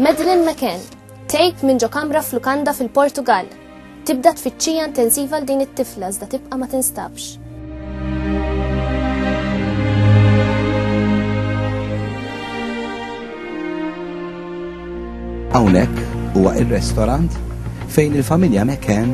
Madeline McCann, tgħid minn ġo kamra f'lukanda fil-Portugal. Tibda tfittxija intensiva l din it-tifla iżda tibqa' ma tinstabx. Hawnhekk huwa ir-restorant fejn il-familja McCann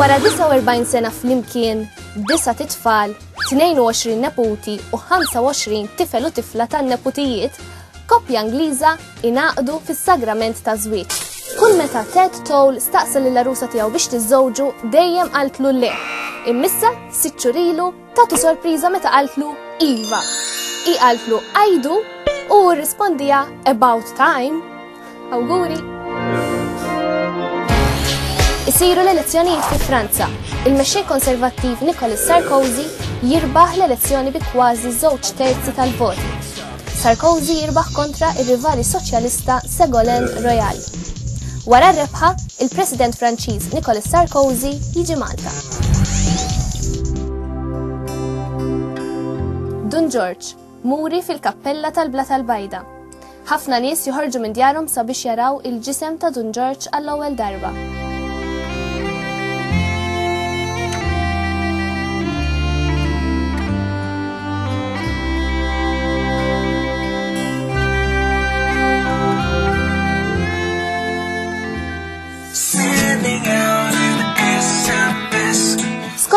Wara 49 sena flimkien, disa titfal, 22 neputi u 25 tifel u tifla tan neputijiet, koppja Ingliża inaqdu fis-sagrament ta' żwieġ. Kull meta Ted Toll staqsa lill arusa tiegħu biex tiżżewġu dejjem qaltlu le. Immissa sitt xurilu Tatu sorpriża meta qaltlu iva. I qaltlu għajdu u rrispondija about time. Awguri! Isiru l-elezzjonijiet fi Franza. Il-mexxej konservattiv Nicolas Sarkozy jirbaħ l-elezzjoni bi kważi żewġ terzi tal-voti Sarkozy jirbaħ kontra r-rivali soċjalista Ségolène Royal. Wara r-rebħa, il-President Franċiż Nicolas Sarkozy jiġi Malta. Dun Ġorġ, muri fil-kappella tal-Blata l-Bajda. Ħafna nies joħorġu minn djarhom sabiex jaraw il-ġisem ta' Dun Ġorġ għall-ewwel darba.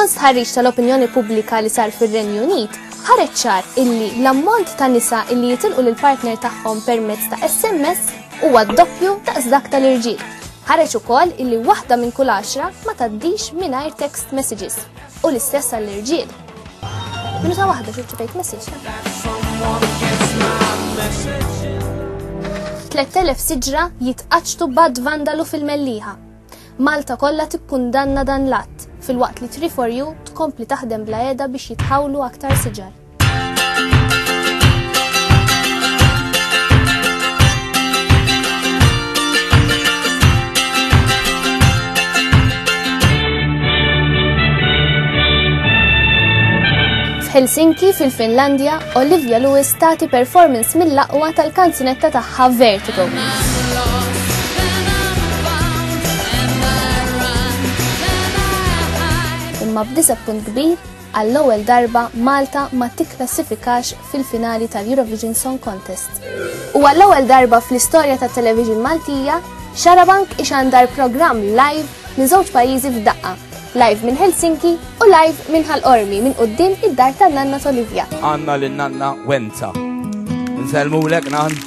Skont stħarriġ tal-opinjoni pubblika li sar fir-Renju Unit, ħareċ ċar illi l-ammont ta' nisa illi jitilqu lill partner tagħhom permezz ta' SMS huwa d-doppju daqs dak tal-irġiel. Ħareġ ukoll illi waħda minn kull għaxra ma tgħaddix mingħajr text messages u l-istess għall-irġiel. Minuta waħda xi ċipejt message. 3000 siġra jitqaċtu bad vandalu fil-melliħa. Malta kollha tikkundanna dan l-att, filwaqt li 3 for you tkompli taħdem bla qiegħda biex jitħawlu aktar siġar. Helsinki fil-Finlandja, Olivia Lewis tagħti performance mill-aqwa tal-kanzunetta tagħha Vertigo. Imma b'disappunt kbir, Għall-ewwel darba Malta ma tikklassifikax fil-finali tal-Eurovision Song Contest. U għall-ewwel darba fl-istorja tat-television Maltija, Xarabank ixandar programm live minn żewġ pajjiżi f'daqqa, live minn Helsinki u live minn Ħal Qormi minn quddiem id-dar tan-nanna t'Olivia. Għandna lin-nanna Wenza. Nsellmulek, Nan.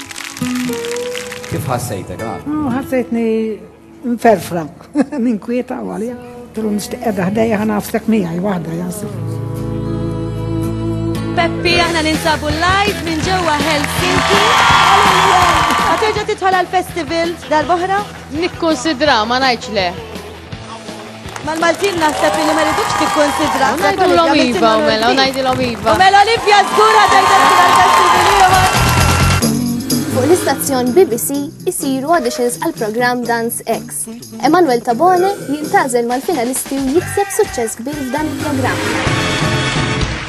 Kif ħassejtek, Nan? Ħassejtni Mferfra, minn kwieta u għalija. Tilu nishtiq edha ħdejja ħana għafsek miegħi waħda jassu. Peppi, aħna ninsabu live minn ġewwa Helsinki. Għaterġa titħol għal-festival dal-boħra? Nikkonsidra, ma najċ le. Mal-Maltin naħseb li ma rridux tikkonsidra. Ngħidulhom iva u mela, ngħidilhom iva. U mela Olivia żgura tgħidha Fuq l-istazzjon BBC isiru auditions għal programm Dance X. Emanuel Tabone jintazel mal-finalisti u jikseb suċċess kbir f'dan il-programm.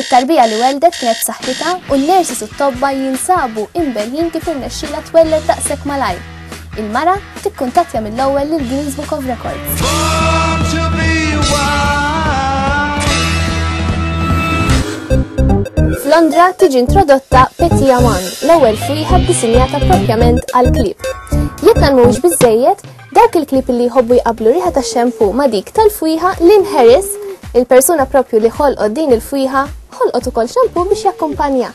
It-tarbija li welldet kienet b'saħħitha u n-nurses u t-tobba jinsabu imberħin kif irnexxilha twelled daqshekk malajr. Il-mara tikkuntattja mill-ewwel lill-Guinness Book of Records. F'Londra tiġi introdotta Petit Aman, l-ewwel friħa ddisinjata proprjament għall-klieb. Jekk dan mhuwiex biżżejjed, Dawk il-klieb li jħobbu jqabblu riħa tax-xampoo ma' dik tal-fwieħa Lynn Harris, il-persuna proprju li ħolqot din il-fwieħa, ħolqot ukoll xampoo biex jakkumpanjah.